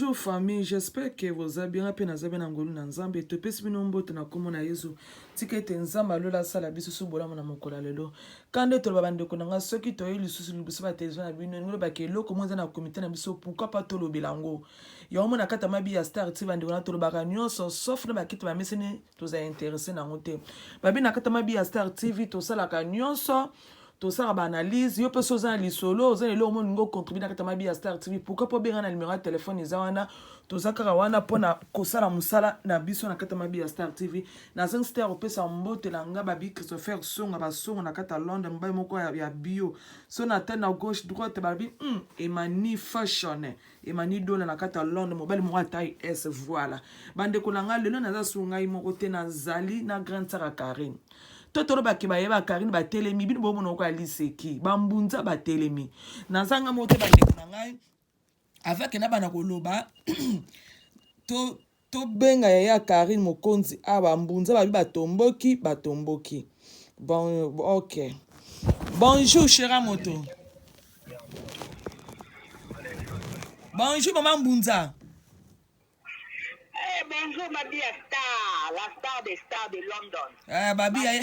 Bonjour famille, j'espère que boza bien, nga pe naza bien na ngolu na Nzambe. Topesi bino mbote na kombo na Yezu. Tika ete Nzambe ya lola asala biso su bolamu na mokolo ya lelo. Kanda ete oloba bandeko na nga soki toyei lisusu liboso ba television na bino, elingi lobaka eloko moko eza na komite na biso, pourquoi pas tolobela yango. Yango mona kata mabi ya star ti bandeko na tolobaka nyonso sauf na bakiti bameseni toza interesse na yango te. Babi na kata mabi ya star TV tosalaka nyonso. tosala ba analyse yo mpe so oza na lisolo oza na eloko molingi ocontribue na kati ya mabi ya star tv pourquoi mpo obenga na numero ya telefone eza wana toza kaka wana mpo na kosala mosala na biso na kati ya mabi ya star tv nazangi star kopesa mbote na nga babi christopher songa basongo na kati ya londre mobali moko ya bio so na tene na gauche droite balobi mm, emani fashion emani dola na kati ya londre mobali moko atai es voilà bandeko na ngai lelo naza su ngai moko te nazali na grande sara carine to tolobaki bayeba carine batelemi bino bomona oko ya liseki bambunza batelemi naza ngai moko te bandeko na ngai avake na bana koloba to To benga yaya carine mokonzi awa ba mbunza babi ba tomboki ba tomboki bon ok bonjour chera moto bonjour maman mbunza Eh, bonjour ma vie à star, la star des stars de London. Eh, babi ya ye.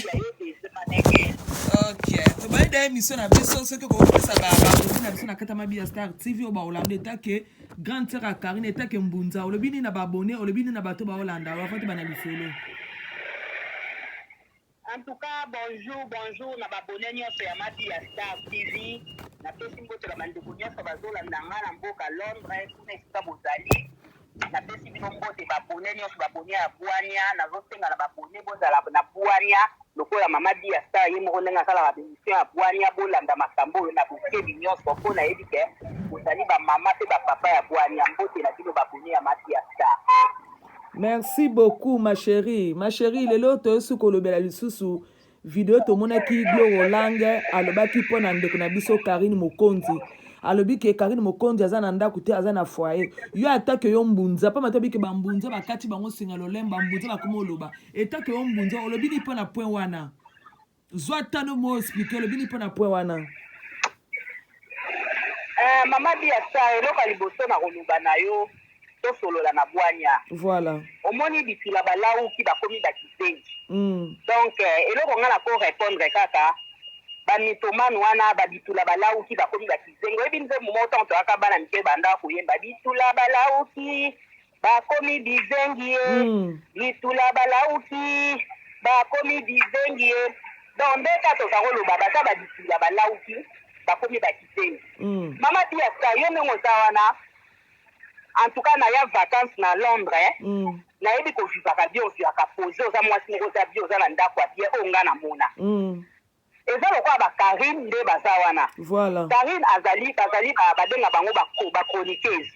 Ok. Tobali da émission na biso soki okopesa ba bakozi na biso na kata mabi ya Star TV oyo baolanda eta ke grande sœur ya Karine eta ke mbunza olobi nini na ba abonné olobi nini na bato baolanda oyo afati bana lisolo. En tout cas, bonjour, bonjour na babone nyonso ya mabi ya Star TV. Napesi mbote na bandeko nyonso bazolanda ngai na mboka Londres, kuna esika bozali. Napesi bino mbote ba abonnes nionso ba abonnes ya bwania nazo senga na ba abonnes bozala na bwania lokola mama Biya star ye moko ndenge asalaka ba emission ya bwania bolanda makambo oyo na bokebi nionso po nayebi ke bozali ba mama pe ba papa ya bwania mbote na bino ba abonnes ya ma Biya star. Merci beaucoup ma cherie. Ma cherie lelo toyosi kolobela lisusu video tomonaki Gloro Lange alobaki mpo na ndeko na biso Karine Mokonzi alobi ke Karine Mokonzi aza na ndako te aza na foyer yo atake yo mbunza mpo matobi ke bambunza bakati bango singa lolemba mbunza bakoma oloba etake yo mbunza olobi ni mpo na point wana zwa tano mo explike olobi ni mpo na point wana uh, mama biasa eloko ya liboso na koloba na yo tosolola na bwanya voilà omoni bitula balawuki bakomi bakizengi mm. donc eh, eloko nga nako repondre kaka bamitomane wana babitula balawuki bakomi bakizengi oyebi nzembo moko ntango toyaka bana mike banda koyemba bitula balawuki bakomi bizengi ye mm. bitula balawuki bakomi bizengi ye donc nde ka toza koloba baza babitula balawuki bakomi bakizengi mm. mama biasa yo ndenge oza wana En tout cas naya vacances na Londres nayebi ko vivaka bien ozuaka pose oza muasi moko oza bien oza na ndaku ya bien oyo nga na mona eza lokola ba Carine nde baza wana voilà Carine azali bazali ba benga bango ba chroniqueuse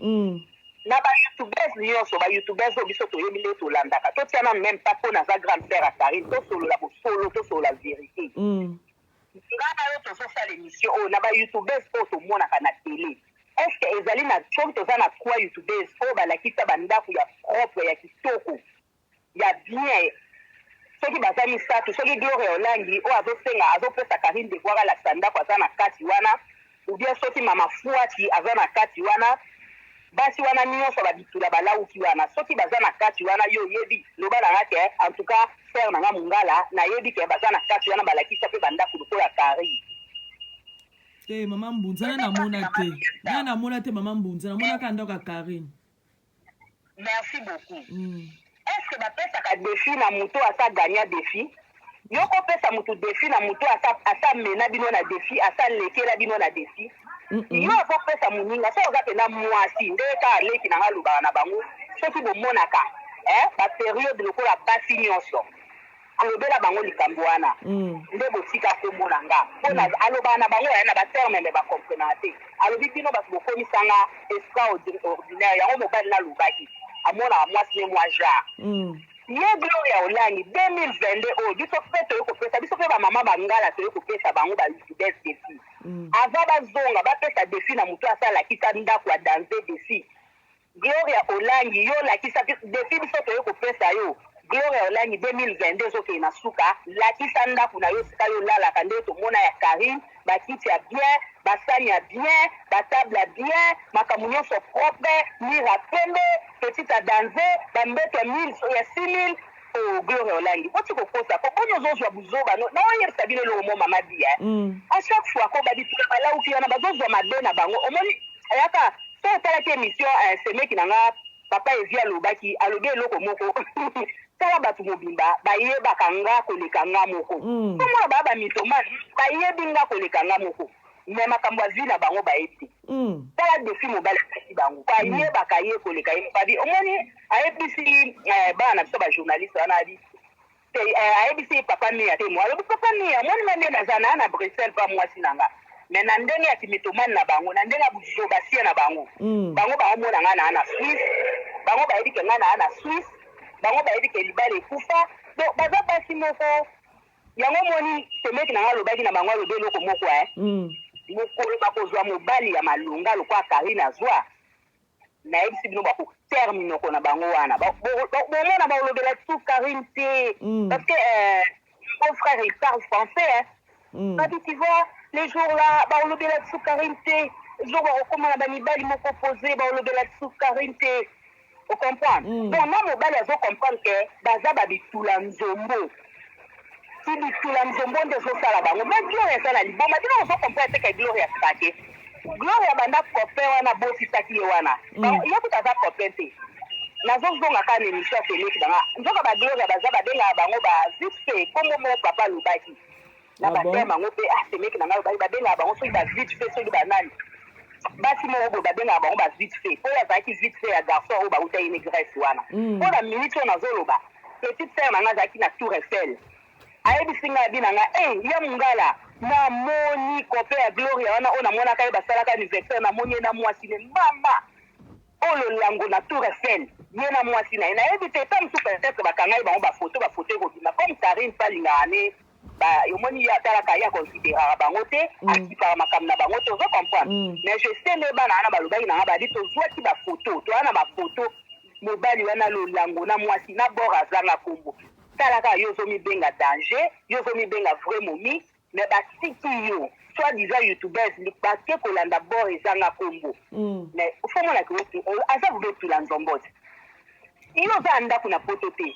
na ba youtubeuse nioso ba youtubeuse oyo biso toyebi nde to landaka to tiana meme pas po naza grande sœur ya Carine to solola bosolo to solola verite Nga na yo tozo sala emission oyo na ba youtubers oyo tomonaka na tele est ce que ezali na comme toza na trois youtubers oyo balakisa ba ndaku ya propre ya kitoko ya bien soki baza misatu soki gloria olangi oyo azo senga azo pesa carine devoir alakisa ndaku aza na kati wana ou bien soki mama fuati aza na kati wana basi wana nionso ba bitula ba lawuki wana soki baza na kati wana yo oyebi loba na nga ke en tout cas frère na nga mungala na yebi ke baza na kati wana ba lakisa pe ba ndaku lokola paris te mama mbunza na namona te na namona te mama mbunza namonaka ndako ya carine Merci beaucoup est ce que ba pesaka defi na mutu oyo asi a gagna defi? Yo ko pesa mutu defi na mutu oyo asi a mena bino na defi asi a lekela bino na defi? Yo oko pesa muninga soki oza penza muasi nde kaka leki na nga alobaka na bango soki bo monaka eh ba periode lokola basi nioso Alobela bango likambu wana nde botika kombo na nga po na alobaka na bango na ba terme mais ba comprenaka te alobi bino batu bokomisa nga estra ordinaire yango mobali na lobaki amonaka mwasi ne mwa genre ye gloria olangi 2022 oyo biso pe toye kopesa biso pe ba mama ba ngala toye kopesa bango ba lucides defi ava bazonga bapesa defi na moto asala lakisa ndaku a danze defi Gloria olangi yo lakisa biso depuis biso toye kopesa yo gloria olangi 2022 ezokende na suka lakisa ndaku nayo esika yo olalaka nde tomona ya carine ba kiti ya bien ba sani ya bien ba table ya bien makambo nionso propre mur ya pembe petite ya danze ba mbetu ya 1000 ya 6000 Ooh gloria olangi boti kokosa po boni ozo zua buzoba no na oyebisa bino eloko mo mama di hein a chaque fois ko ba bitunga ba lauki wana bazo zua mabe na bango omoni ayaka soki otalaki emission eh semeki na nga papa evi alobaki alobi eloko moko tala batu mobimba ba yebaka nga koleka nga moko po mona ba ba mythomane ba yebi nga koleka nga moko mais makambo ya vie na bango ba yebi te tala defi mobali apesi bango ba yebaka ye koleka ye moko abi omoni ayebisi eh, bana na biso bajournaliste wana abi eh, ayebisi ye papa mia te mo alobi papa mia moni na nde naza na na bruxelles pa mwasi na nga me na ndenge ya kimitomane na bango na ndenge ya buzobasie na bango mm. bango baomona ngai naa na swisse bango bayebi ke ngai naa na swisse bango bayebi ke libala ekufa donc baza basi moko yango omoni semeki na ngai alobaki na bango alobi eloko moko e mokolo bakozwa mobali ya malonga lokola karine azwa nayebisi bino bako ter minoko na bango wana bomona baolobela lisusu carine te mm. parce que euh, mon frère il parle français hein. mm. babi tu vois le jour là baolobela lisusu carine te jour bakokoma na bamibali moko pose baolobela lisusu carine te ocomprendre mm. donc na mobali azocomprendre ke baza babitula nzombo Ibisula nzombo nde ezosala bango ba gloria aza na liboma bino bozo comprendre te ke gloria asika te gloria banda copain wana botisaki ye wana mm. ye kuta aza copain te nazozonga kaka na émission ya feleki banga nzoka ba gloria baza babengaka bango ba vite fait kombo moko papa alobaki na Ah bon? bateme yango mpe ah, semeki na ngai ba- babengaka bango soki ba vite fait soki banani basi moko boye babengaka bango ba vite fait oyo azalaki vite fait ya garçon oyo bauta ye ne grèce wana Mm. mpo na minute oyo nazoloba petite sere na ngai azalaki na tour eiffel ayebisi ngai abi na ngai e ya mongala namoni kope ya gloria wana oyo namonaka ye basalaka anniversaire namoni ye na mwasi ne mama oyo lolango na tour eiffel ye na mwasi na ye nayebi te ta mosusu peut-être bakangaki bango bafoto bafoto ekobima comme karine mpe alingaka ne ba omoni ye atalaka ye aconsideraka bango te akipaka makambo na bango te ozo comprendre mais je sais nde bana wana balobaki na nga badi tozwaki ba photo toza na ba photo mobali wana lolango na mwasi na bord azanga kombo tala kaka yo ozomibenga danger yo ozomibenga vrai momi mais batiki yo soit disant youtubers bake kolanda bord ezanga kombo mais fo omonaka aza vube tula nzombote yo oza ya ndako na poto te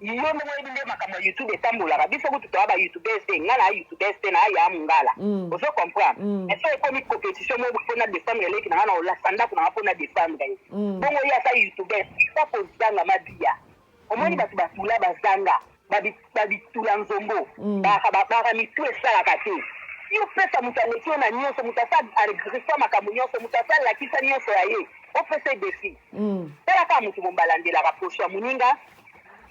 Yo moko oyebi nde makambo ya youtube etambolaka biso kutu toa ba youtubers te nga naa youtubers te naa yaa mungala ozo comprendre mais soki ekomi competition moko po na defendre leki na nga na kolasa ndaku na nga po na defendre ye bongo ye aza youtubers pourquoi kozanga mabia omoni batu batula bazanga ba bitula nzombo bayaka ba bara mitu esalaka te yo pesa mutu aleki yo na nionso mutu asa agriffa makambo nionso mutu asa lakisa nionso ya ye opesa ye defi tala kaka mutu mombalandelaka poso ya muninga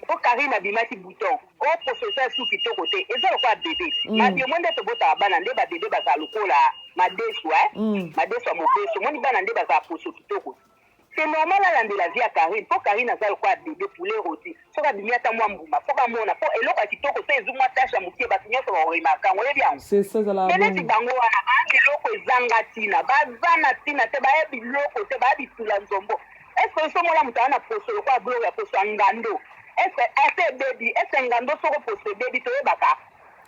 po Carine abimaki bouton o poso eza esu kitoko te eza lokola bebe mm. mabi omoni nde tobotaka bana nde babebe bazala lokola madesu eh? mm. madesu ya mobesu omoni bana nde bazala poso kitoko c'est normal alandela vie ya Carine po Carine aza lokola bebe poulet roti soki abimi ata mwa mbuma fo bamona po eloko ya kitoko so ezwi mwa tashe ya moke bato nyonso bakoremarka yango oyebi yango mpe neti bango wana baa biloko ezanga ntina baza na ntina te baya biloko te baya bitula nzombo Est ce que oso mona mutu aza na poso lokola Gloria poso ya ngando est ce que ase ebebi est ce que ngando soko poso ebebi toyebaka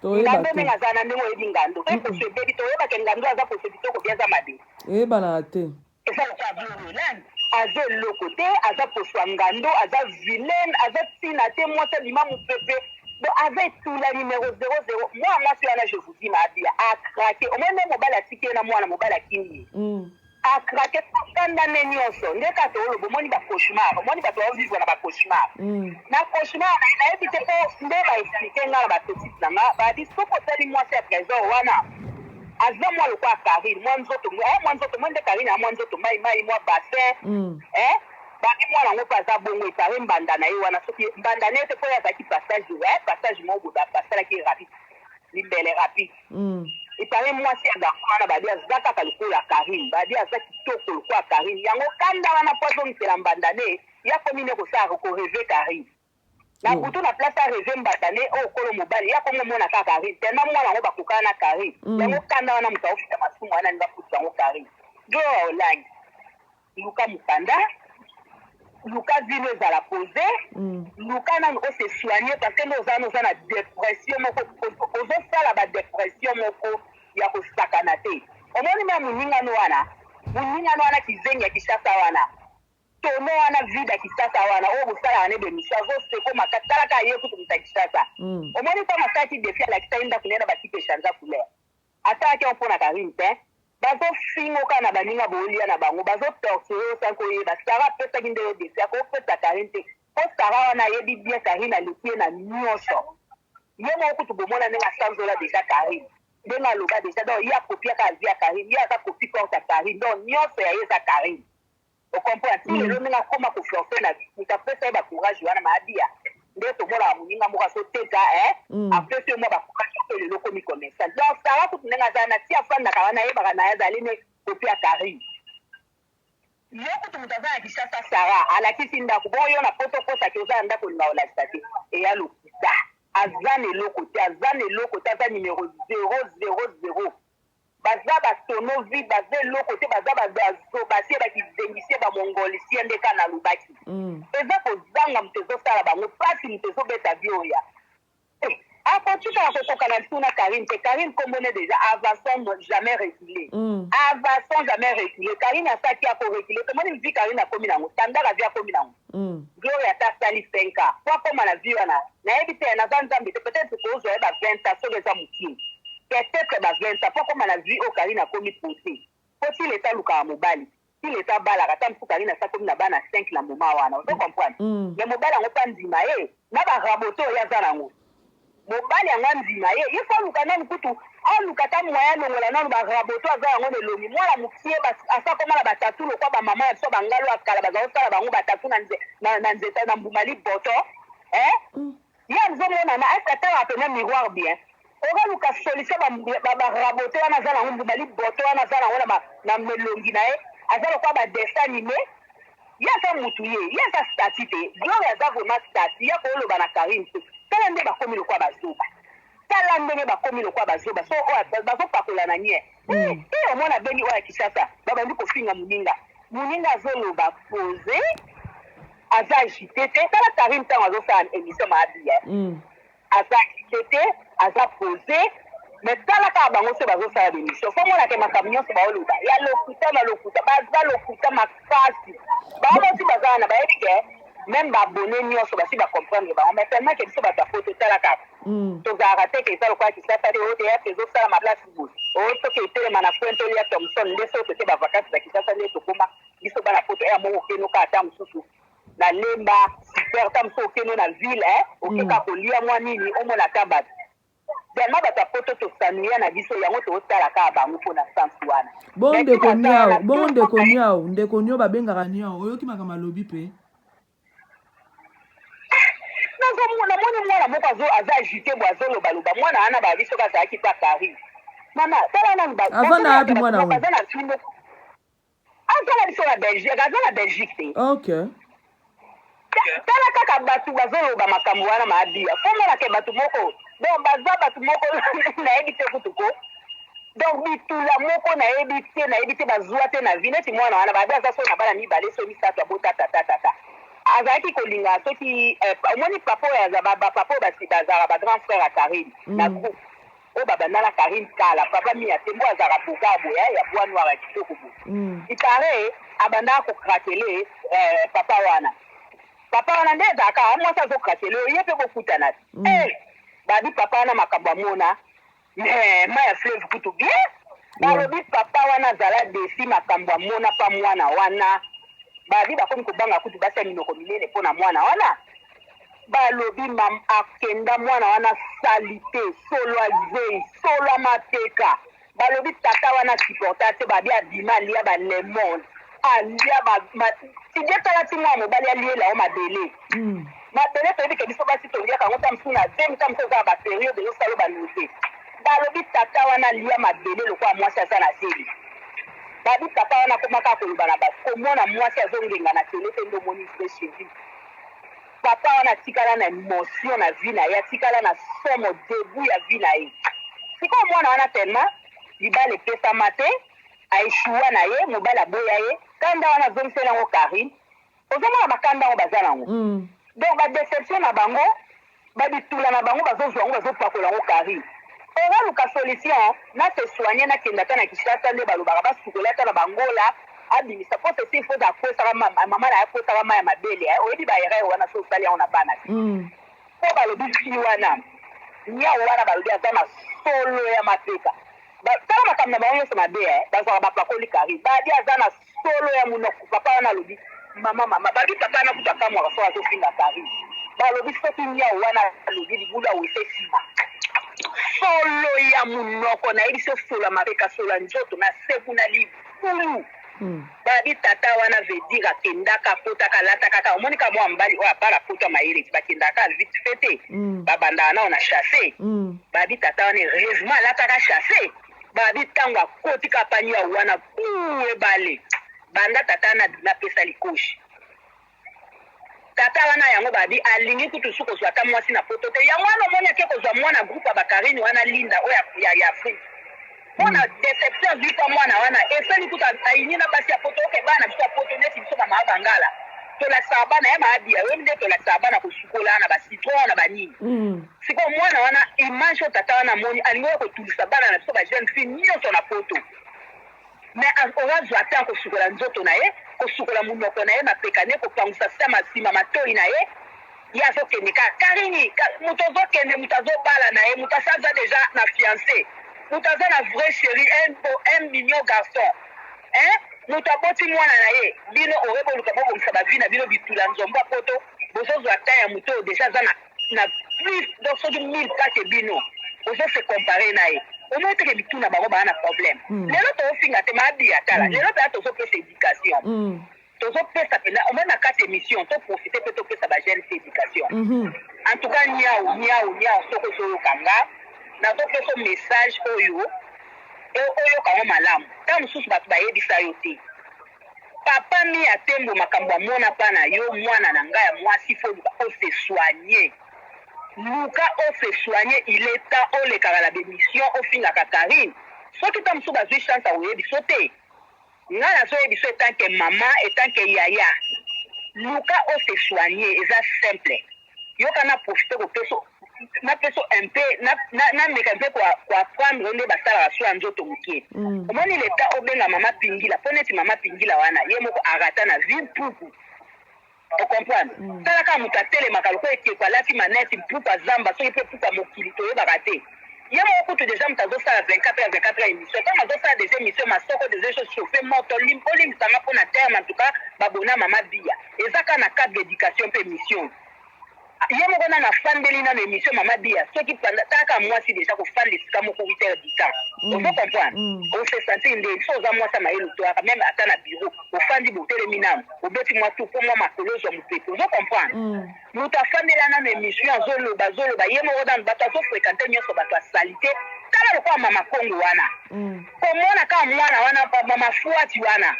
toyeba ngando te ndenge aza na ndenge oyebi ngando pe poso ebebi toyebaka ngando aza poso kitoko bi aza mabe eyebanaka te eza lokola Gloria nani aza eloko te aza poso ya ngando aza vilaine aza tina te mwasi abima mupepe donc aza etula numero 00 mwana mwasi wana je vous dis ma abia a craquer omoni nde mobali atiki ye na mwana mobali akimi ye Mm. A craque ko fanda ne nionso nde kaka olo bo moni ba cauchemar omoni batu bao vivre na ba cauchemar na cauchemar naye na yebi te po nde ba explique nga na ba petite na nga ba dit soki otali mwasi ya tresor wana aza mwa lokola carine mwa nzoto eh mwa nzoto omoni nde carine ya mwa nzoto mayi mayi mwa bassin eh ba dit mwana ngo pe aza bongo il parait mbanda naye wana soki mbanda naye te po ye azalaki passage eh passage moko boye ba salaki ye rapide Limbele rapide. Mm. Il paraît mwasi ya garçon wana badi aza kaka lokola Karine. Badi aza kitoko lokola Karine. Yango kanda wana po azongisela mbanda ne ya komi ne kosala ko reve Karine. Na oh. butu na place a reve mbanda ne o oh, kolo mobali ya komo mona kaka Karine. Tellement mwana yango bakokana na Karine. Mm. Yango kanda wana moto aofita masumu wana ni bafuta yango Karine. Jo olangi. luka mukanda luka vie no ezala pose luka nanu o se soigner parce que nde oza wana oza na depression moko ozo- ozosala ba depression moko ya kosakana te omoni meme moningano wana moningano wana kizengi ya kishasa wana tono wana vide ya kishasa wana oyo bosalaka ne bemission azoseko makasi talaka ye kutu moto ya kishasa omoni ntango asalaki defi alakisaki ndako naye na bakiti echanza couleur Asalaki yango pona carine tein. Bazo fingo kaka na baninga bo lia na bango bazo torture yo sans ko yeba Sarah apesaki nde yo defi akoki kopesa carine te po Sarah wana ayebi bien carine aleki ye na nioso ye moko kutu bomona ndenge asanzola deja carine ndenge aloba deja donc ye akopia kaka vie ya carine ye aza copie corte ya carine donc nioso ya ye eza carine O comprendre? Ti lelo ndenge akoma ko forcer na vie, moto apesa ye ba courage wana maabia nde tomonaka moninga moko azo teka eh, apesi yo mwa ba courage yo pe lelo okomi commercial. Donc Sarah kutu ndenge aza wana, ti afandaka wana ayebaka naye azali nde copie ya Carine. Yo kutu moto aza na Kinshasa Sarah alakisi ndaku, bongo yo na poto okosa ke oza na ndaku olinga kolakisa te? Eya lokuta. Aza na eloko te, aza na eloko te, aza numero zero, zero, zero. Baza ba tonneau vide baza eloko te baza ba zoba te ba kizengicien ba mongolcien nde ka nalobaki eza kozanga moto ezo sala bango pasi moto ezo beta vioya te ako tikala kokoka na ntuna carine te carine kombo ne deja avason jamais recule avason jamais recule carine asaki ako recule tomoni vie carine akomi nango tandala vie akomi nango Gloria ata asali cinq ans po akoma na vie wana nayebi te naza nzambe te peut etre tokozua ye ba vingt ans soki eza mukie peut etre ba vingt ans po akoma na vie oyo carine akomi pose po ti lesa alukaka mobali ti lesa abalaka ata mususu carine asi akomi na bana cinq na moment wana ozo comprendre mais mobali yango pe andima ye na ba rabote oyo ye aza na ngo Mobali yango andima ye, ye faut aluka nanu kutu aluka ata moyen alongola nanu ba raboto aza yango na elongi, mwana mukie bas asi akoma na ba tatou lokola ba maman ya biso ba ngalu ya kala bazalaki kosala bango ba tatou na nze na na nzete na mbuma liboto eh ye azo mona na est atalaka pena miroir bien? Ozo luka solution ba mbu- ba ba raboto wana aza nango mbuma liboto wana aza nango na ba na elongi na ye aza lokola ba dessin anime Ye aza mutu ye ye aza statut te gloria aza vraiment statut yako oloba na carine te tala nde bakomi lokola ba zoba tala ndenge bakomi lokola ba zoba so oyo bazo pakola na nien hee hee omona beni oyo ya kishasa ba bandi ko finga muninga muninga azo loba pose aza agite te tala carine tango azo sala emission ma abi hee aza kitete aza pose mais tala kaka bango soki bazo sala ba emission fo omona ke makambo nionso bao loba ya lokuta na lokuta baza lokuta makasi bango moko ti baza wana bayebi ke meme ba abonne nionso basi ba comprendre bango mais tellement ke biso batu ya poto tala kaka tozalaka te ke eza lokola kisasa te o theatre ezo salama place boye o soki etelema na coin to lia thomson nde soki toke ba vacances na kisasa nde tokoma biso bana poto heure moko okeno kaka temps mususu na lemba super ta mosusu okeno na ville eh okeka kolia mwa nini omona ta bato vraiment bato ya poto tosanuya na biso yango tootala kaka bango mpo na sansi wana bongo ndeko niao bongo ndeko niao ndeko nio babengaka niao oyoki makambo alobi mpe nazomona moni mwana moko aza agite bo azolobaloba mwana wana baya biso bazalaki mpe paris mama tala nanu aza na yapi mwana wana Azo tala biso na Belgique, aza na Belgique te. Okay. Ta- tala kaka bato bazoloba makambo wana maabia komona ke bato moko donc baza bato moko nayebi te kutu ko donc bitula moko nayebi te nayebi te bazwa te na vi neti mwana wana babi aza so na bana mibale so misato abota tatatata azalaki kolinga soki eh, omoni papa oyo aza ba- ba- papa oyo basi- bazalaka ba grand frère ya karine na groupe Oyo ba banda na carine kala. Papa mia tembo azalaka beaugar boye hein ya bois noir ya kitoko boye il parait abandaka ko craqueler eh papa wana papa wana nde ezalaka hein mwasi azo craqueler yo yepe bo kutana te eh babi papa wana makambo amona mais mayi ya fleuve kutu bien balobi papa wana azala deçu makambo amona pa mwana wana babi bakomi kobanga kutu basi ya minoko minene pona mwana wana. Ba lobi mam akenda mwana wana salite solo ya zeyi solo ya mapeka ba lobi tata wana a supporte ya te ba bi abima alia ba lemon alia ba ma tidie tala ti mwana mobali aliela yo mabele mabele toyebi ke biso basi toliaka yango ta mosusu na zemi ta mosusu oza na ba periode ezo sala yo ba noze ba lobi tata wana alia mabele lokola mwasi aza na zemi ba bi papa wana akoma kaka koloba na batu komona mwasi azo ngenga na tele te nde omoni vrai cherie Papa wana atikala na emotion na vie na ye atikala na somo debut ya vie na ye sikoyo mwana wana tellement libala epesama te a echoua na ye mobali aboya ye kanda wana azongiseli yango Carine ozomona ba kanda yango baza na yango donc ba deception na bango Ba bitula na bango bazo zua yango bazo pakola yango carine ora luka solution na se soigne na kende ata na kishasa nde balobaka ba sukola ye ata na ba ngola abimisa po ceci il faut akwesaka maman naye akwesaka mayi ya mabele eh oyebi ba erreur wana soki osali yango na bana te po balobi fille wana niawu wana balobi aza na solo ya mapeka tala makambo na bango nionso mabe eh bazuaka ba pakoli carine babi aza na Solo ya munoko papa wana alobi maman maman balobi papa wana kutu akamwaka soki azo finga carine balobi soki niawu wana alobi libulu ya wese esima solo ya munoko nayebisi yo solo ya mapeka solo ya nzoto na seku na libulu balobi tata wana veut dire akendaka akotaka alataka kaka omoni ka mua mbali oyo abala poto ya mayele ti bakendaka kaka vite fait te babandaka nao na chasse balobi tata wana heureusement alataka chasse Babi tangu akoti kaka pani ya wana buu ebale banda tata na bima pesa likoshi tata wana yango babi alingi kutu su kozua ata mwasi na poto te yango wana omoni ake kozua mwana groupe ya bakarine wana linda oyo ya, ya afrique mpona hmm. deception azwi mpa mwana wana esali kutu ayini na basi ya poto oke bana na biso ya poto neti biso bamaa bangala tolakisaka bana ya maabiya oyebi nde tolakisaka bana kosukola na bacitron na banini hmm. Sikoyo mwana wana image oyo tata wana amoni alingi oya kotulisa bana na biso ba jeune fille nionso na poto mais a- oyo azwa temps kosukola nzoto na ye kosukola munoko na ye mapeka ne kopangusa sama sima matoyi na ye ye azokende kaka karini ka, moto ozokende moto azobala na ye moto asi aza deja na fiance moto aza na vrai chéri un, bo- un mignon garçon hein moto aboti mwana na ye bino oye boluka bobongisa bavi na bino bitula nzombo ya poto bozozwa temps ya moto oyo deja aza na na plus donc soki 1000 pas que bino ozo se comparer na ye omoni teke mituna bango baa na problème mm. lelo toofinga te maabiya tala mm. lelo mpenza tozopesa éducation mm. tozopesa mpenza omoni na kati émission toprofite mpe topesa bajeune te éducation mm -hmm. en tout cas niau niau niau soki ozoyoka nga nazopesa message oyo oyoka yango malamu ntango mosusu bato bayebisa yo te Papa mia tembo makambo ya mona pa na yo mwana na nga ya mwasi il faut oluka o se soigner luka o se soigner il est temps olekaka na b'emission ofingaka Carine soki tango mosusu bazui chance ya koyebiso te nga nazo yebiso etant que maman etant que yaya luka o se soigner eza simple Yoka na profiter ko pesa na pesa un peu na na meka un peu ko ko apprendre nde ba salaka soin ya nzoto mukie. Omoni le temps obenga mama pingila po neti mama pingila wana ye moko a rata na vie mpuku. O comprendre? Tala kaka mutu atelemaka lokola ekeko alati manette mpuku azamba soki pe mpuku ya mokili toyebaka te. Ye moko kutu dejà mutu azo sala 24 heures 24 heures emission tangu azo sala dejà emission masoko dejà ezo chauffer moto bo limbisa nga pona terme en tout cas ba bona mama biya eza kaka na cadre d'education pe emission ye moko nanu afandeli nanu emission mama biya soki panda ta kaka mwasi dejà ko fanda esika moko 8 heures du temps ozo comprendre o se sentir nde so oza mwasi ya mayele otoyaka meme ata na bureau ofandi botelemi nanu obeti mwa tour po mwa makolo ozwa mopepe ozo comprendre Mutu afandela nanu emission azo loba azo loba ye moko nanu batu azo frequenter nionso batu ya salite tala lokola mama kongo wana komona kaka mwana wana mama fuati wana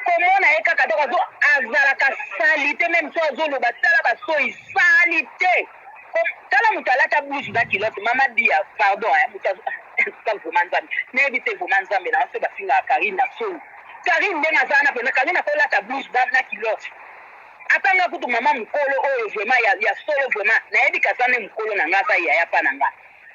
komona ye kaka donc azo azalaka salite meme so azo loba tala ba soyi salite Kom- tala mutu alata bluge na kilote mama bia pardon hein mutu azo Nzambe, vraiment nzambe nayebi te vraiment nzambe na nso bafingaka karine na soni karine ndenge aza wana pena karine akolata bluge na na kilote Ata nga kutu maman mukolo oyo vraiment ya ya solo vraiment nayebi ke aza nde mukolo na nga aza yaya pa na nga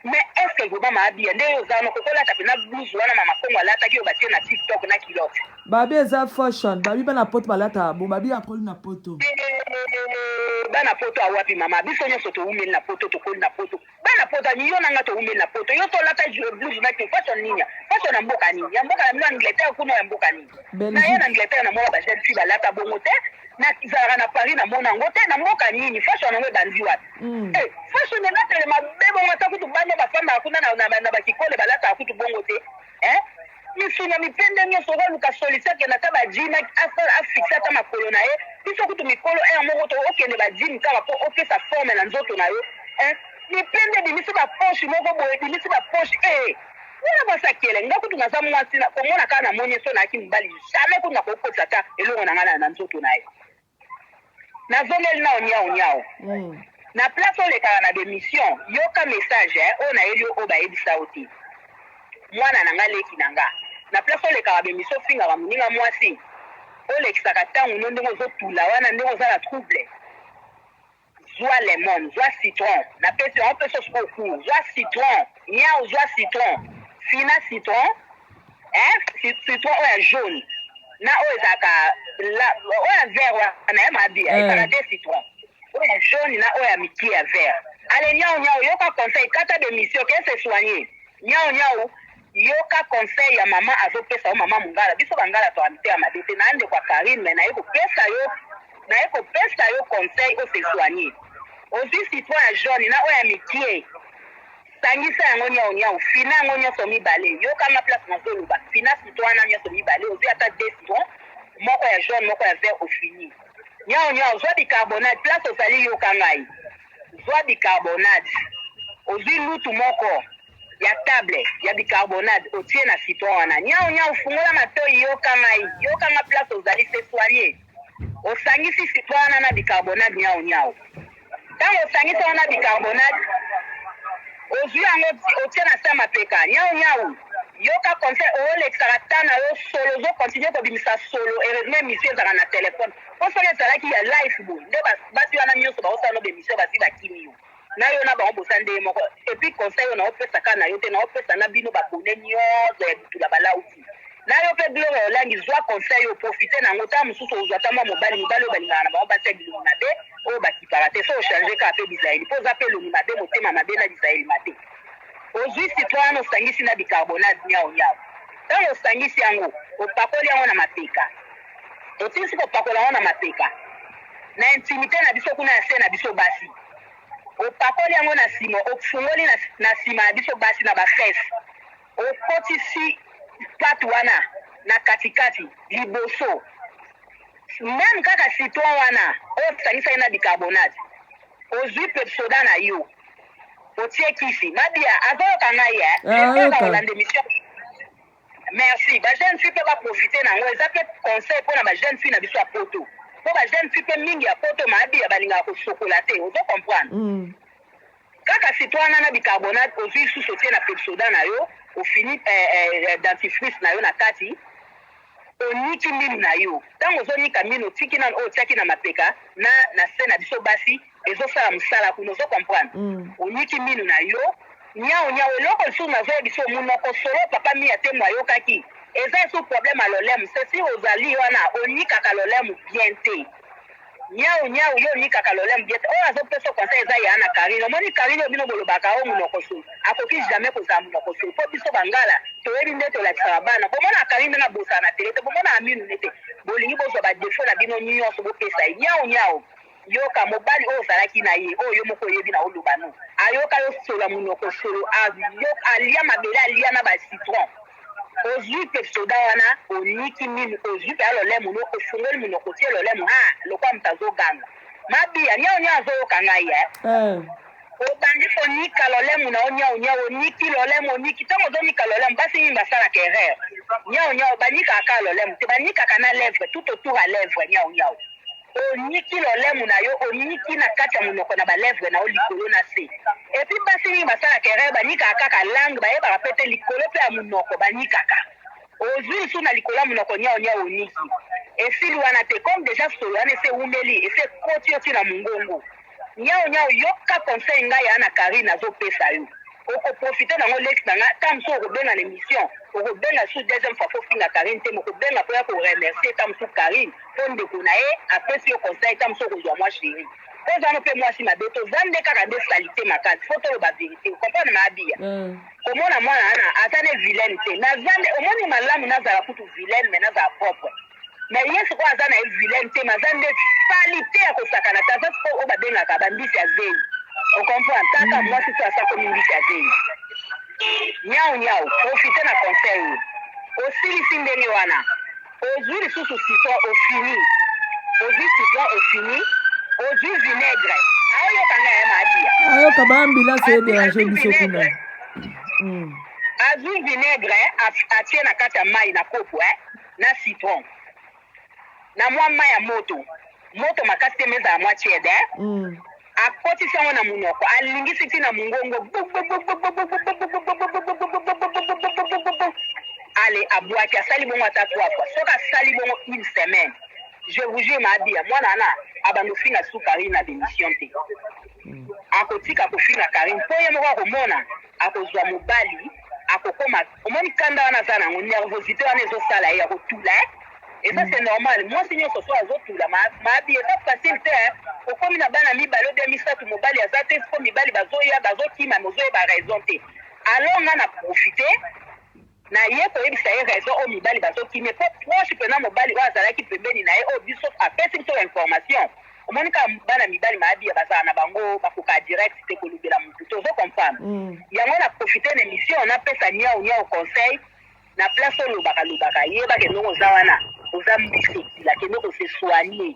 mais est ce que vraiment ma biya nde yo oza wana okoki olata pena blouse wana mama kongo alataki oyo batie na tik tok na culotte Babi eza fashion. Babi bana poto balataka bo. Babi akoli na poto. Eh, bana poto awapi mama biso nyonso towumeli na poto tokoli na poto Bana poto ani yo na nga to wumeli na poto yo to lata je blue na te façon nini ya façon na mboka nini ya mboka na bino Angleterre kuna ya mboka nini na ya na Angleterre na mona ba jeune fille ba lata bongo te na zalaka na Paris na mona ngo te na mboka nini façon na ngo ebandi wapi mm. eh façon na lata le mabe bongo ta kutu bana ba fanda kuna na na, na, na ba kikole ba lata kutu bongo te Hein? Misu na mipende nionso oko luka solution akenda ata ba gym a fixe ata makolo na ye biso kutu mikolo heure moko to okende ba gym kaka po opesa forme na nzoto na yo hein? Mipende ebimisi ba poche moko boye ebimisi ba poche eeh Wana mwasi akele nga kutu naza mwasi na komona kaka na moni ye so nayaki mobali jamais kutu nakoki kotisa ata eloko na nga na nzoto na ye. Nazongeli nao niawu niawu. Na place olekaka na b'emission yoka message eh oyo nayeli yo oyo bayebisa yo te muana na nga leki na nga na place olekaka b'emission ofingaka moninga muasi olekisaka tango no ndenge ozo tula wana ndenge oza na trouble. Zwa lemon, zwa citron, napesi yango mpe sauce au cours, zwa citron, niawu zwa citron, fina citron hein, ci- citron oyo ya jaune na oyo ezalaka la- oyo ya vert wana naye mabi Eh. ezalaka de citron oyo ya jaune na oyo ya mikie ya vert ale niawu niawu yoka conseil kata demission ke se soigner niawu niawu Yoka conseil ya maman azo pesa yo maman mungala biso ba ngala azwaka mitema mabe te naza ndeko ya carine mais naye ko pesa yo naye ko pesa yo conseil o se soigne ozui citron ya jaune na oyo ya mikie sangisa yango niawu niawu fina yango nionso mibale yoka nga place nazo loba fina citron wana nionso mibale ozui ata deux citron moko ya jaune moko ya vert ofini niawu niawu zwa bicarbonate place ozali yoka ngai zwa bicarbonate ozui lutu moko ya table ya bicarbonade otie na citron wana niawu niawu fungola matoyi yoka ngai yoka nga place ozali se soigner osangisi citron wana na bicarbonade niawu niawu ntango osangisi wana bicarbonade ozwi yango otie na se mapeka niawu niawu yoka conseil oolekisaka ta na yo solo ozokontinue kobimisa solo heureusement emission ezalaka na telefone mpo soki ezalaki ya life boye nde batu wana nyonso baosala no bemission bazwi bakimi yo nayo na bango boza ndenge moko epuis conseil oyo nao pesa kaka nayo te nao pesa na bino ba abonne nioso ya bitula ba lauti nayo pe gloria olangi zua conseil oyo profite na yango tango mosusu ozua ata mwa mobali mibali oyo balingaka na bango basi ya bilongi mabe oyo bakipaka te so ochange kaka pe bizaleli po oza pe elongi mabe motema mabe na bizaleli mabe ozui citron wana osangisi na bicarbonate niao niao ntango osangisi yango opakoli yango na mapeka Tosilisi kopakola yango na mapeka na intimite na biso kuna ya se na biso basi. Opakoli yango na sima, ofungoli na, na sima ya biso basi na bafese, okotisi pate wana na katikati liboso meme kaka citron wana oyo osangisaki na bicarbonate, ozwi pepsoda na yo otie kisi. Mabia azoyoka ngai eh, ah, ayoka. Merci. Ba jeune fille pe ba profiter na ngo eza pe conseil pona ba jeune fille na biso ya poto. Po ba jeune fille pe mingi ya poto maabi ya balingaka ko sokola te. Ozo comprendre? Mm. Kaka sitwana na bicarbonate ozui susu otie na pepsoda na yo, ofini eh, eh, eh, dentifrice na yo na kati, oniki minu na yo. Tango ozo nika minu otiki na oyo otiaki na mapeka na na se na biso basi ezo sala musala kuna ozo comprendre mm. oniki minu na yo niao niao eloko lisusu nazoya biso munoko solo papa mia te mwayokaki eza esu problème ya lolemu sesi ozali wana onikaka lolemu bien te niao niao yo onikaka lolemu bien te oyo azopesa conseil eza ya na karine omoni karine oyo bino bolobaka o munoko solo akoki jamais kozala munoko solo mpo biso bangala toyebi nde tolakisaka bana bomona karine ndenge abosana na tele te bomona aminu ne te bolingi bozwa badefo na bino nyonso bopesa ye niao niao Yoka mobali oyo ozalaki na ye oyo yo moko oyebi na oloba no ayoka yo solo munoko solo a yoka alia mabele alia na ba citron ozui pe soda wana oniki minu ozui pe alolemu no ofungoli munoko otie lolemu haa lokola mutu azo ganga mabia niao niao azo yoka ngai eh obandi konika lolemu na yo niao niao oniki lolemu oniki tango ozo nika lolemu basi mingi basalaka erreur niao niao banikaka kaka lolemu te banikaka na levre tout autour ya levre niao niao Oniki lolemu na yo, oniki na kati ya monoko na ba lèvres na yo, likolo na se. Et puis basi mingi basalaka erreur, banikaka kaka langue, bayebaka pe te likolo pe ya monoko banikaka. Ozui lisusu na likolo ya monoko niao niao oniki. Esili wana te, comme dejà solo wana esi ewumeli, esi ekoti yo ti na mongongo. Niao niao yoka conseil nga ya na carine azo pesa yo oko profite na ngo leki na nga ta mosusu oko benga na emission oko benga sous deuxième fois fo finga carine te moko benga po ya ko remercier ta mosusu carine po ndeko na ye apesi yo conseil ta mosusu oko zua mwa cherie po zano pe mwasi mabe to zande kaka nde salite makasi fo tolo ba verite o comprendre ma abia mm. komona mwana ana aza ne vilaine te na zande omoni malamu nazala kutu vilaine mais nazala propre Mais ye sikoyo aza na ye vilaine te mais aza nde salite ya kosakana te aza sikoyo oyo babengaka ba mbisi ya zeyi ocomprendre kaka hmm. mwasi soki asakomi mbisi ya zeyi nyau nyau profite na conseil osilisi ndenge wana ozwi lisusu citron ofini ozwi citron ofini ozwi vinaigre aoyoka nga ya maadiya ayoka baambila se derange biso kuna hmm. azwi vinaigre atie na kati ya mai na kopo eh? na citron na mwa mai ya moto moto makasi te mais ezala mwa tiède hein? Mm. akotisi yango na monoko alingisi ti na mongongo ale abwaki asali bongo ata trois fois soki asali bongo une semaine je vous jure maabia mwana wana abanda ofinga su karine na bemission te akotika kofinga karine mpo ye moko akomona akozua mobali akokoma omoni kanda wana aza nango nervosite wana ezosala ye ya kotula eh. eza c'est normal mwasi nyonso so azotula ma, ma bi eza facile te eh. okomi na bana mibale obia misato mobali aza te siko mibali bazoya bazokima mozoyeba raison te alors nga na profite Na ye koyebisa ye raison oyo mibali bazo kimia po proche pena mobali oyo azalaki pembeni na ye oyo biso apesi biso ba information omoni kaka bana mibali mabiya bazala na bango bakokaa direct te kolobela mutu te ozo comprendre yango na profite na emission na pesa niawu niawu conseil na place olobaka lobaka yeba ke ndongo oza wana oza mbisi ekila kende ko se soigner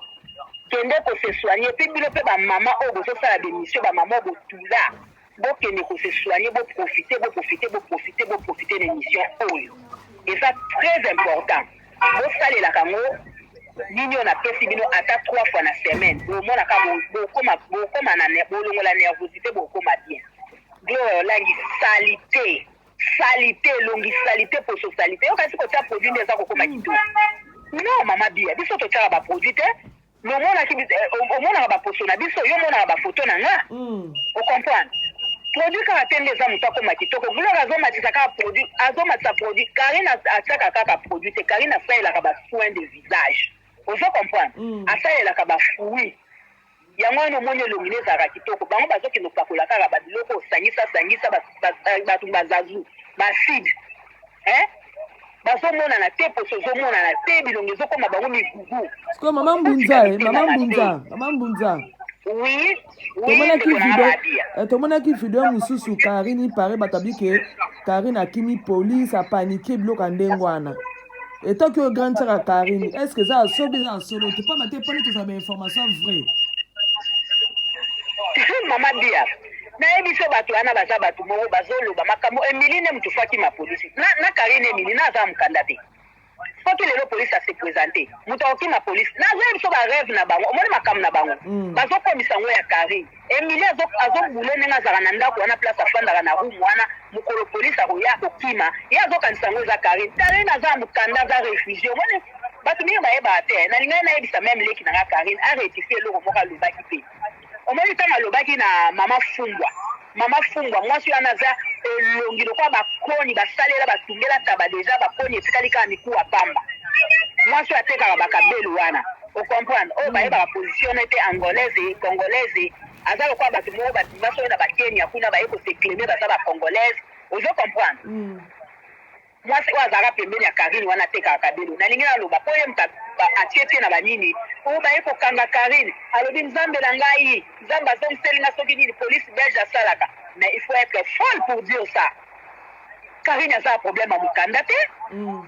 kende ko se soigner epuis bino pe ba maman oyo bozo sala ba emission ba maman oyo botula Bo kende ko se soigner bo profiter bo profiter bo profiter bo profiter na emission oyo eza très important bo salelaka yango nini oyo na pesi bino ata trois fois na semaine bo mona ka bo bo koma bo koma na ne bo longola nervosite bo koma bien gloire olangi salite salite elongi salite poso salite yo kasi kotia produit nde eza kokoma kitoko non mama bia biso totiaka baproduit te Bomonaki biso, eh, o- omonaka baposo na biso, yo omonaka bafoto na nga, ocomprendre produit kaka te nde eza moto akoma kitoko. Gloire azomatisa kaka produit, azomatisa produit. Karine as- atiaka kaka produit te, Karine asalelaka ba soins de visage, ozo comprendre, asalelaka ba fruits yango wana omoni elongi nde ezalaka kitoko bango bazokende kopakola kaka babiloko osangisa sangisa ba- ba- ba- bato bazazu baacide hein bazomonana te poso ezomonana te bilongi ezokoma bango migugu sikoyo mama mbunza e mama mbunza mama mbunza oui tomonaki video eh, tomonaki video mosusu karine ipare bato abi ke karine akimi polise apanike biloko ya ndenge wana etoki oyo grande sara karine est ce que eza ya sobi eza ya solo te mpamba te mpone tozala bainformation vraie mama bia Nayebi ce batu wana baza batu moko bazo loba makambo Emilie nde mutu faut akima police na na Carine Emilie na aza mukanda te soki lelo police a se presenter mutu akokima police na azo yebiso ba rêve na bango omoni makambo na bango mm. bazo komisa ngo ya Carine Emilie azo azo boule ndenge azaka na ndako wana place afandaka na room wana mukolo police akoya akokima ye azo kanisa ngo eza Carine Carine aza mukanda aza refugie omoni bato mingi bayebaka te nalingaki nayebisa meme leki na nga karine arectifie eloko moko alobaki te Omoni tango alobaki na maman fumbwa maman fumbwa mwasi wana aza elongi lokola ba koni ba salela ba tungela taba deja ba koni etikali kaka mikuwa pamba mwasi oyo atekaka ba kabelu wana o comprendre oyo bayebaka position ne te angolaise et congolaise aza lokola bato moko ba bima soki na ba kenya kuna baye ko se claimer baza ba congolaise ozo comprendre Mwasi oyo azalaka pembeni ya carine wana atekaka cabelo nalingi naloba po ye mutu atie pied na ba nini ou baye kokanga carine alobi nzambe na ngai nzambe azongiseli nga soki nini police belge asalaka mais il faut etre folle pour dire ça carine aza na problème ya mukanda te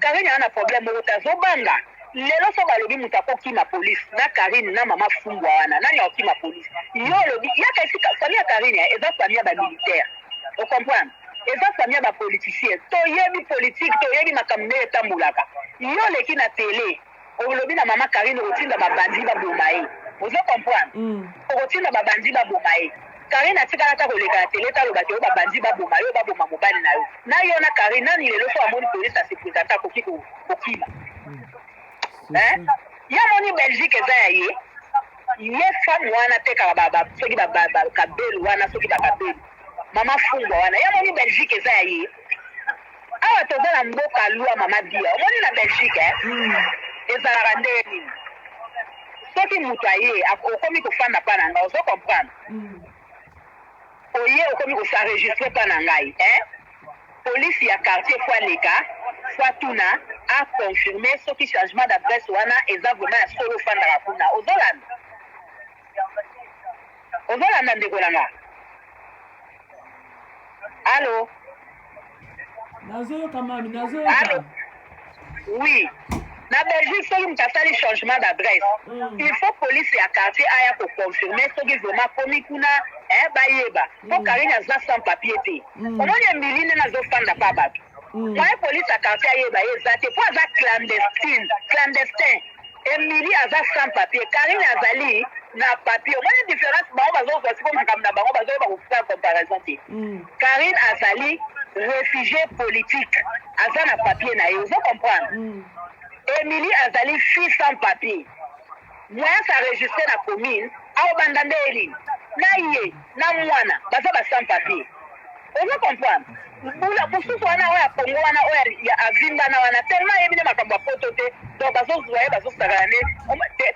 carine aza na problème moko te azobanga lelo so balobi mutu akokima police na carine na mama fumbwa wana nani akokima police yo olobi yaka esika famille ya carine eza famille ya ba militaire o comprendre Eza famille ya ba politiciens to yebi politique to yebi makambo ndenge etambolaka yo oleki na tele olobi na maman Carine okotinda ba bandit ba boma ye ozo comprendre okotinda ba bandit ba boma ye Carine atikala ata koleka na tele te aloba ke yo ba bandit ba boma yo ba boma mobali na yo na yo na Carine nani lelo soki amoni police a se presenter akoki ko kokima hein ye amoni Belgique eza ya ye ye femme wana atekaka ba ba soki ba ba kabelu wana soki ba kabelu Maman fumbwa wana ye amoni Belgique eza ya ye awa toza na mboka loi maman biya omoni na Belgique eh? mm. ezalaka nde nini soki moto aye okomi kofanda mpa na ngai ozo comprendre mm. oye okomi kosaregistre mpa na ngai eh? polisi ya quartier fo aleka fo atuna aconfirme soki changement d'adresse wana eza vraimen ya solo ofandaka kuna ozolanda ozolanda ndeko na nga alo nazoyoka mami nazoyoka alo oui na belgique soki moto asali changement d'adresse mm. il faut police ya quartier aya koconfirme soki vraimen akomi kuna eh, bayeba mpo mm. karine aza sans papier te mm. omoni emili nde nazofanda mpa bato Mm. Moyen police ya quartier ayeba ye eza te po aza clandestine, clandestin. Emilie aza sans papier, Carine azali na papier. Omoni difference bango bazozwa siko makambo na bango bazoyeba kosala comparaison te. Mm. Carine azali refugie politique, aza na papier na ye, ozo comprendre? Mm. Emilie azali fille sans papier. Moyens a registre na commune ao banda nde Elie na ye na muana baza ba sans papier ozo comprendre mbula mususu wana oyo ya Congo wana oyo ya avimbana wana tellement ayebi nde makambo ya poto te donc bazo zua ye bazo sakana nde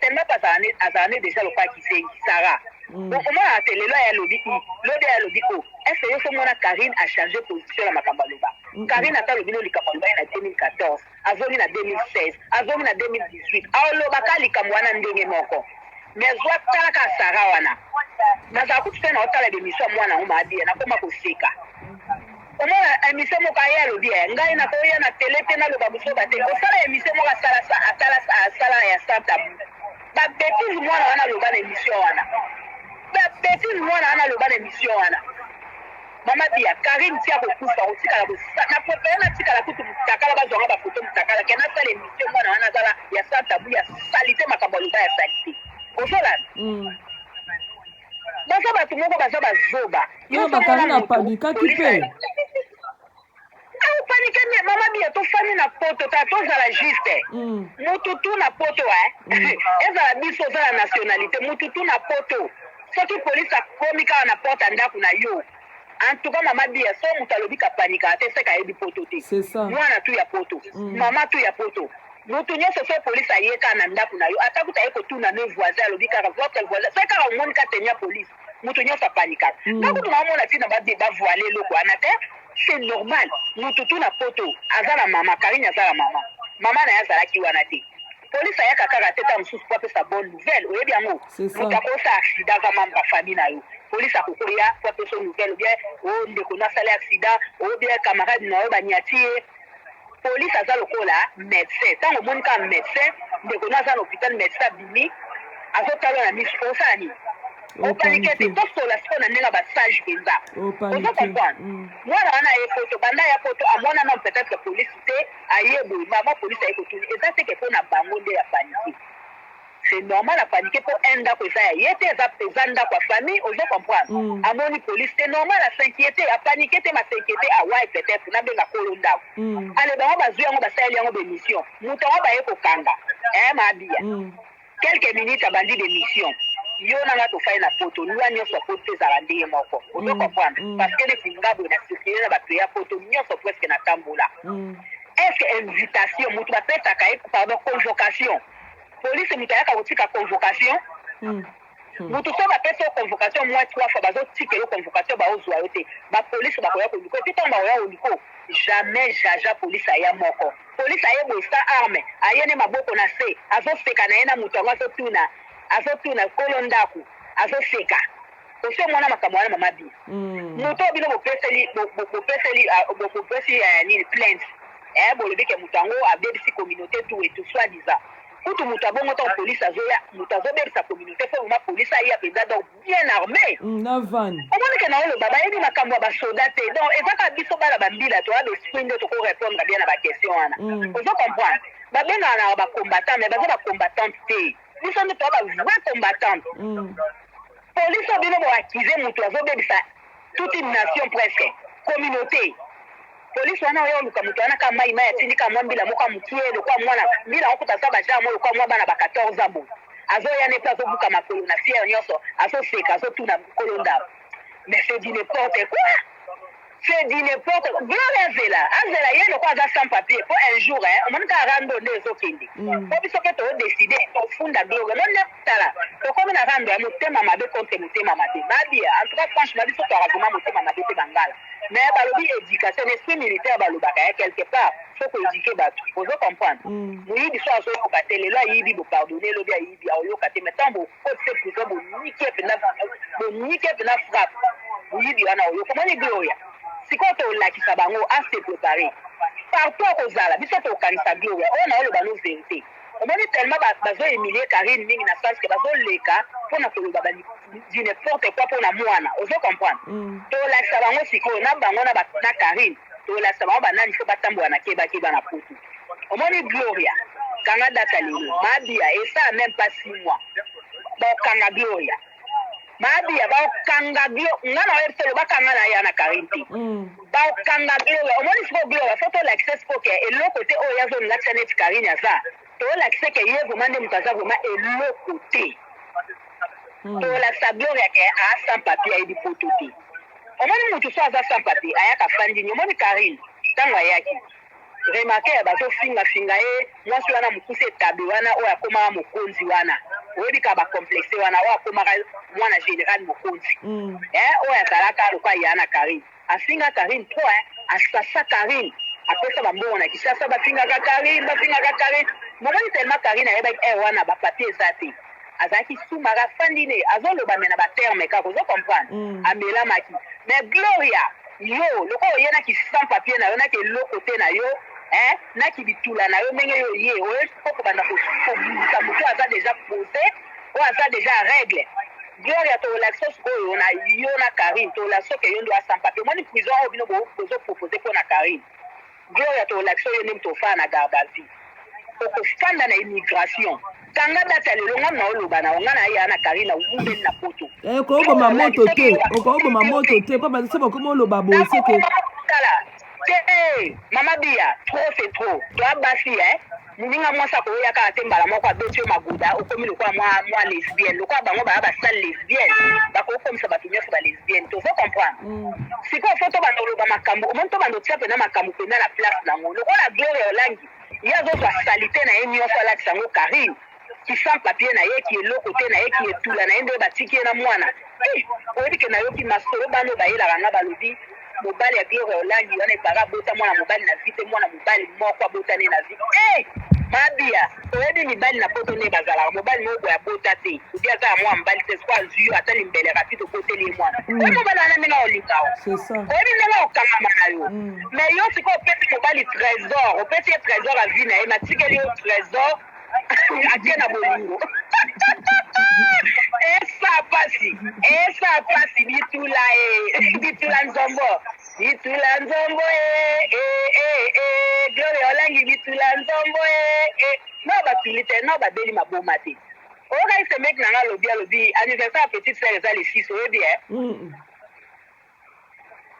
tellement pe azala nde azala nde deja lokola kizengi Sarah mm. donc omonaka te lelo aya lobi i lobi aya lobi o est ce que yo so mona Carine a changer position na makambo aloba Carine ata lobi no likambo aloba ye na 2014 Azongi na 2016 azongi na 2018 aoloba ka likambo wana ndenge moko mais azua tala kaka Sarah wana nazala kutu te na otala bemission ya mwana yango maabia nakoma koseka omona emission moko aye alobi ya eh, ngai nakoya na tele te naloba buzoba te osala emission moko asala asala asala ya santa ba betize mwana wana aloba na emission wana ba betize mwana wana aloba na emission wana Mama biya carine ti akokufa akotikala ko na prefere natikala kutu mutakala bazwa nga ba photo mutakala ke nasala emission mwana wana azala ya sans tabou ya salite makambo aloba ya salite ozolanda mm. baza bato moko baza bazoba yo bakari na padikaki mpe Au panique mais maman bia to fani na poto ta to zala juste mm. mutu tu na poto eh mm. ezala biso zala nationalité mutu tu na poto soki police akomi kaka na porte ya ndako na yo en tout cas mama bia so moto alobi kapanika te seka ayebi poto te mwana tu ya poto mm. mama tu ya poto moto nyonso so polise aye kaka na ndako na yo ata kuta aye kotuna ne voisin alobi kaka votre voisin soki kaka omoni ka tenia polise moto nyonso apanikaka mm. nga kutu naomona ntina bavoile eloko wana te c'est normal moto tu na poto aza na mama karine aza na mama mama na ye azalaki wana te polisi ayaka kaka te ntango mosusu po apesa bonne nouvelle oyebi yango moto akosa accident aza mambre ya famille na yo polisi akokoya po apesa nouvelle obien o oh, ndeko nasali accident obien oh, camarade na yo banyati ye Police aza lokola medecin tango omoni kaka medecin ndeko no aza na hopital medecin abimi azo talo na misu osala nini opanike te tosola siko na ndenge ba sage mpenza ozo comprendre mm. mwana wana aye poto banda ya poto amona na peut-être police te aye boye mama police aye kotuni eza seke mpo na bango nde ya panike C'est normal a paniquer po un ndaku eza ya ye te eza eza ndaku ya famille ozo comprendre amoni police c'est normal a s'inquieter a paniquer te ma s'inquieter a why peut etre na benga kolo ndaku ale bango bazui yango basaleli yango ba emission mutu yango baye ko kanga eh ma biya quelques minutes abandi ba emission yo na nga tofai na poto loi nyonso ya poto ezala nde ye moko ozo comprendre parce que neti nga boye na circule na bato ya poto nyonso presque na tambola est ce que invitation mutu bapesaka ye pardon convocation Police mutu ayaka kotika convocation mutu soki bapesi yo convocation moins trois fois bazotika yo convocation baozua yo te ba police bakoya koluka yo te ntango bakoya koluka jamais jaja police aya moko police aye boye sa arme aye ne maboko na se azoseka na ye na mutu yango azotuna azotuna kolo ndaku azoseka Osi omona makambo wana mama bi moto oyo bino bopeseli bopeseli bopesi nini plainte eh bolobi ke moto yango abebisi communaute tout et tout soit disant kutu moto ya bongo ntango police azoya moto azobebisa communaute fo mama police aya mpenza donc bien arme omoni ke na oloba bayebi makambo ya basoda te donc eza kaka biso bana bambila toya besprit nde toko repondre bien na baquestion wana ozo comprendre babengaka na bacombattant mais baza bacombattante te biso nde toza ba vrai combattante police oyo bino boaccuse motu azobebisa toute une nation presque communauté polisi wana oya oluka moto wana ka mai mai atindi ka mwa mbila moko ya mokie lokola mwana mbila yango kuta aza bajar mo lokola mwa bana ba 14 ans boye azoya nde mpe azobuka makolo na fiere nyonso azoseka azotuna kolo ndako mais c'est du n'importe quoi C'est du n'importe quoi. Gloria azela, azela ye lokola aza sans papier po un jour hein, omoni kaka rando nde ezokende. Mm. Po biso pe to décider tofunda Gloria. Non ne tala, tokomi na rando ya motema mabe contre motema mabe. Babi, en tout cas franchement biso to vraiment motema mabe te bangala. Mais balobi éducation, esprit militaire balobaka hein, quelque part faut ko éduquer batu. Ozo comprendre? Mm. Muyibi so azoyoka te, lelo ayibi bo pardonner, lobi ayibi aoyoka te, mais tant bo Cote ce prison bonike pena bonike pena frappe moyibi wana oyo okomoni Gloria sikoyo tolakisa bango a se prepare partout akozala biso tokanisa Gloria oyo na oloba no verite omoni tellement ba bazo humilie Carine mingi na sens que bazo leka pona koloba ba du n'importe quoi pona mwana ozo comprendre mm. tolakisa bango sikoyo na bango na ba na Carine tolakisa bango banani faut batambola na keba keba na poto Omoni gloria kanga data lelo mabia esala meme pas six mois bakanga gloria mabia bakanga glo nga na oyebi solo bakanga na ya na karine te mm. bakanga gloria omoni siko gloria fo tolakisa siko ke eloko te oyo yazo nlakisa neti karine aza tolakisa ke ye vrema nde moto aza vrema eloko te mm. tolakisa gloria ke a sans papier ayebi poto te omoni moto so aza sans papier ayaka fandini omoni karine ntango ayaki Remarquer bazo finga finga ye mwasi wana mukuse etabe wana oyo akomaka mokonzi wana oyebi kaka ba complexe wana oyo akomaka mwana general mokonzi eh oyo azalaka lokola ya na carine afinga carine trop hein asasa carine apesa ba mbongo na Kinshasa bafingaka carine bafingaka carine omoni tellement carine ayebaki heure wana ba papier eza te azalaki sumaka afandi ne azo loba me na ba terme kaka ozo comprendre mm. amelamaki me gloria yo lokola oye na ki sans papier na yo na ki eloko te na yo eh, na ki bitula na yo ndenge yo oye oye po kobanda kobundisa moto aza deja pose oyo aza deja règle gloria tolakisa sikoyo na yo na carine tolakisa ke yo ndo asampa te omoni prison oyo bino bozopropose mpo na carine Gloria to lakisa yo ndenge to fana na garde à vue oko fanda na immigration kanga date ya lelo nga na oloba na yo nga na ya na Karina wumeli na poto eh ko boma moto te oko boma moto te pa ba se ba ko loba bo se ke tala te eh, mama bia trop c'est trop to abasi eh Muninga mwasi akoya kaka te mbala moko abeti yo maguda okomi lokola mwa mwa lesbienne lokola bango baya ba sale lesbienne bakoki komisa bato nyonso ba lesbienne tozo comprendre sikoyo fo tobanda oloba makambo omoni tobanda otia mpena makambo mpena na place nango lokola gloria olangi ye azozwa salite na ye nyonso alatisa yango karine Ki sans papier na ye ki eloko te na ye ki etula na ye nde batiki ye na mwana eeh oyebi ke na yoki masolo bana oyo bayelaka nga balobi mobali ya gloria olangi wana il parait abota mwana mobali na vie te mwana mobali moko abota nde na vie eeh mabia oyebi mibali na poto nde bazalaka mobali moko boye abota te ou bien aza ya mwana mobali te sikoyo azui yo ata limbele rapide oboteli ye mwana oyebi mobali wana ndenge akolinga yo C'est ça. oyebi ndenge akokangama na yo mais yo sikoyo opesi mobali trésor opesi ye trésor ya vie na ye mais atikeli yo trésor ake na bolingo esa pasi esa pasi bitula e bitula nzombo bitula nzombo e e e e gloria olangi bitula nzombo e e no batuli te no babeli maboma te oyoka ese meki na nga alobi alobi anniversaire ya petite sere eza le 6 oyebi e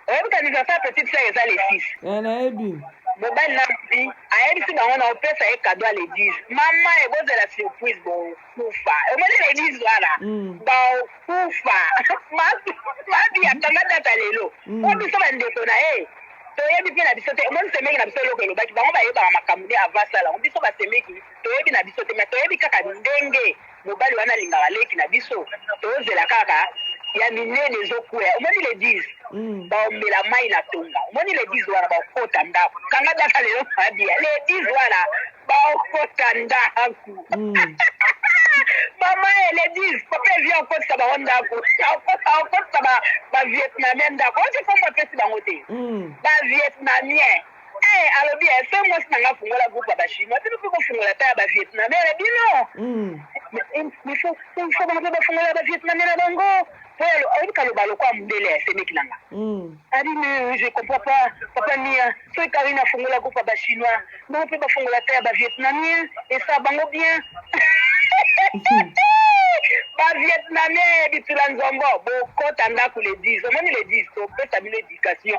oyebi kanisa sa petite sœur eza le 6 eh nayebi mobali na mbi ayebisi bango na opesa ye cadeau ya l'église mama e bozela surprise bokufa omoni l'église wana Mm. bakufa mabi akamata ata lelo Mm. po biso bandeko na ye toyebi mpe na biso te omoni semeki na biso eloko elobaki bango bayebaka makambo nde avant asala yango biso basemeki toyebi na biso te ma toyebi kaka ndenge Mobali wana alingaka leki na biso tozela kaka ya minene ezo kueya omoni le 10 mm. baomela mai na tonga omoni le 10 wana baokota ndako kanga daka lelo mabia le 10 wana baokota ndako mm. mama ele 10 papa evi akotisa bango ndako akotisa bavietnamien ndako otikombo apesi bango te bavietnamien mm. Eh alobi eh fe mwasi na nga fungola groupe ya ba chinois bino pe bofungola ata ya ba vietnamere bino il faut il faut bango pe bafungola ba vietnamere na bango po ya oyebi kaloba lokola mundele ya semeki na nga abi mais je comprends pas papa mia soki karine afungola groupe ya ba chinois bango pe bafungola ata ya ba vietnamien esa bango bien ba vietnamien bitula nzombo bokota ndako le 10 omoni le 10 topesa bino education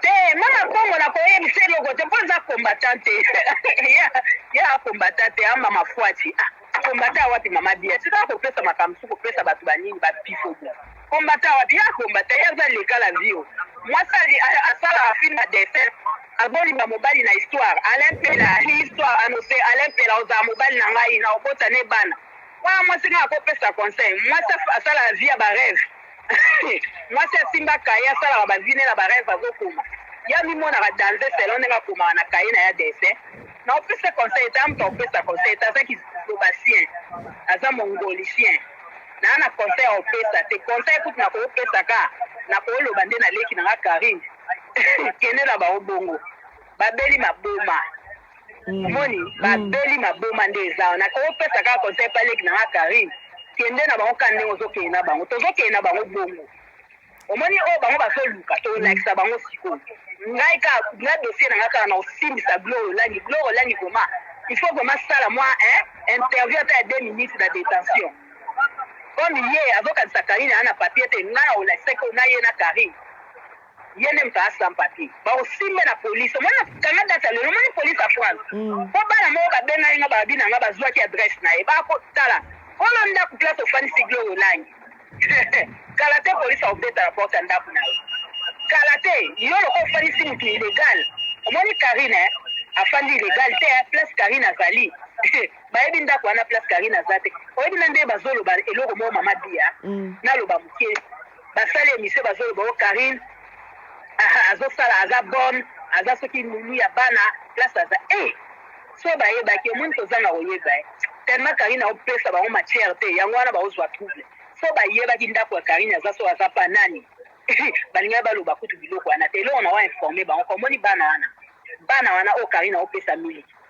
te mama kongo na koyebisa eloko te mpo eza combattant te ya combattant te ama mafuati ah, combattant wapi mama bia tika kopesa makambo su kopesa bato banini bapifo bo combattant wapi ya combattant ya aza leka la vio mwasi asala afilme na dessin azolinga mobali na histoire alain pela histoire anose alain pela ozala mobali na ngai na obota ne bana wana mwasi ngai akopesa conseil mwasi asala vie ya bareve Mwasi asimba cahier asalaka ba vie ne na ba reve azokoma ye amimonaka danze selon ndenge akomaka na cahier na ya dessin na opesa conseil te amutu akopesa conseil te aza kizobasien aza mongolicien naa na conseil ya opesa te conseil kutu na koopesa ka na kooloba nde na leki na nga Carine kende na bango bongo babeli maboma Mm. omoni mm. babeli maboma nde eza wana opesa kaka conseil pa leki na nga karine kende na bango ka ndenge ozokende na bango tozokende na bango bongo omoni oyo oh, bango bazoluka tolakisa bango sikoyo ngai ka na dossier na ngai kaka na kosimbisa glore olangi glore olangi vrema il faut vrema sala mwa interview ata ya deux minutes na détention comme ye azokanisa karine aa na papier te ngai na olakisaki oyo na ye na karine ye nde moto aza sans papier bakosimba na police omoni nakanga date ya lelo omoni police ya france Mm. mpo bana moko babengaki nga babi na nga bazwaki adresse na ye bakotala kolo ndako place ofandisi gloire olangi kala te police akobeta na porte ya ndako na ye kala te yo loko ofandisi moto illegal omoni karine eh, afandi illegal te eh, place karine azali bayebi ndako wana place karine aza te oyebi na nde bazoloba eloko moko mama bia Mm. naloba moke Ba sali emission bazo loba oh Carine ahh azo sala aza bonne aza soki nounou ya bana place aza eh soki ba yebaki omoni ko zanga ko yeba eh tellement Carine azo pesa bango matière te yango wana bazo zwa trouble soki ba yebaki ndaku ya Carine aza soki aza pa nani ba lingaki ba loba kutu biloko wana te eloko na wa informer bango ko omoni bana wana bana wana oyo Carine azo pesa miliki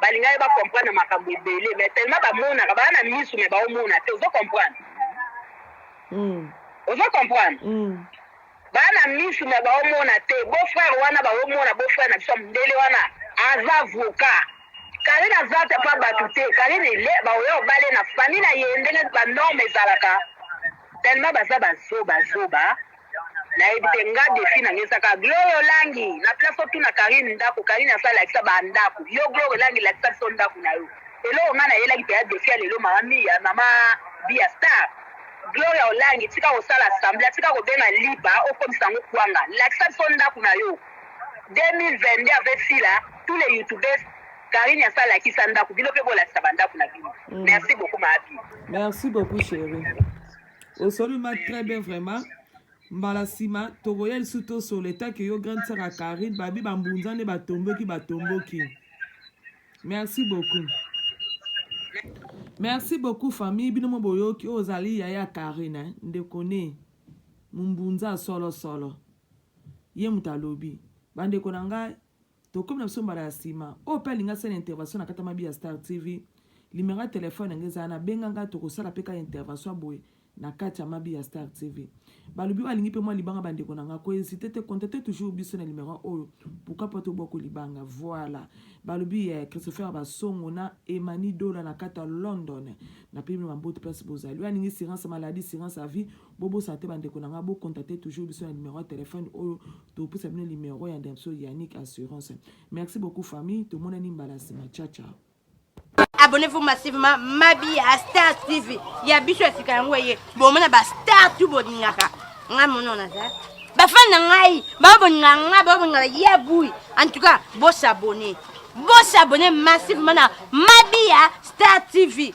Balingaki ba comprendre makambo ebele mais tellement ba monaka ba na misu mais ba omona te ozo comprendre? Hum. Ozo comprendre? Hum. Ba na misu mais ba omona te beau frère wana ba omona beau frère na biso mundele wana aza avocat Karine aza te pa batu te Karine ile ba oya obale na famille na ye ndenge ba norme ezalaka tellement baza ba zoba zoba nayebi te nga defi na nga ezaka gloria olangi na place otuna karine ndako karine asala lakisa ba ndako yo gloria olangi lakisa biso ndako na yo eloko nga nayelaki mpenza defi ya lelo mama miya mama bia star gloria olangi tika kosala sambla tika kobenga lipa okomisa yango kwanga lakisa biso ndako na yo 2022 avec sila tous les youtubeurs karine asala lakisa ndako bino mpe bolakisa bandako na bino mm. merci beaucoup maabi merci beaucoup chérie osoli ma très bien vraiment mbala nsima tokoya lisusu tosolo etake yo grande sara carine babi bambunza nde batomboki batomboki merci beaucoup merci beaucoup famille bino mo boyoki oyo ozali yaya carine ndeko ne mombunza solosolo ye moto alobi bandeko na ngai tokomi na biso mbala ya nsima oyo mpe alingi asala intervention na kata mabi ya star tv limero ya telefone yango ezala na benga ngai tokosala mpe kaka intervention ya boye na kati ya mabi ya star tv balobi oyo alingi mpe mwa libanga bandeko na ngai kohésite te contacte toujours biso na limero oyo pourquoi pas tobwako libanga voilà balobi ya eh, christopher basongo na emani dola na kati ya london napemi bino bambote place bozali oyo alingi sirance maladie sirance ya vie Bobosana te bandeko na ngai, bo contacter toujours biso na numero ya telefone oyo tokopesa bino numero ya ndeko biso Yannick Assurance. Merci beaucoup famille, tomonani mbala nsima. Ciao ciao. Abonnez-vous massivement Mabi ya Star TV ya biso ya sika yango eye bomona ba star tu bolingaka ngai mono naza bafani na ngai babolinga ngai babolinga ya bui en tout cas bosabone bosabone massivement na Mabi ya Star TV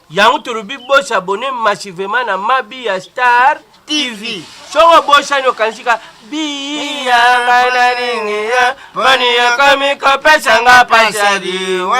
Yango tolobi bo s'abonner massivement na Mabi ya Star TV. Soki obosani okanisi ka biya bana nini ya bani ya komi kopesa nga pasadi wa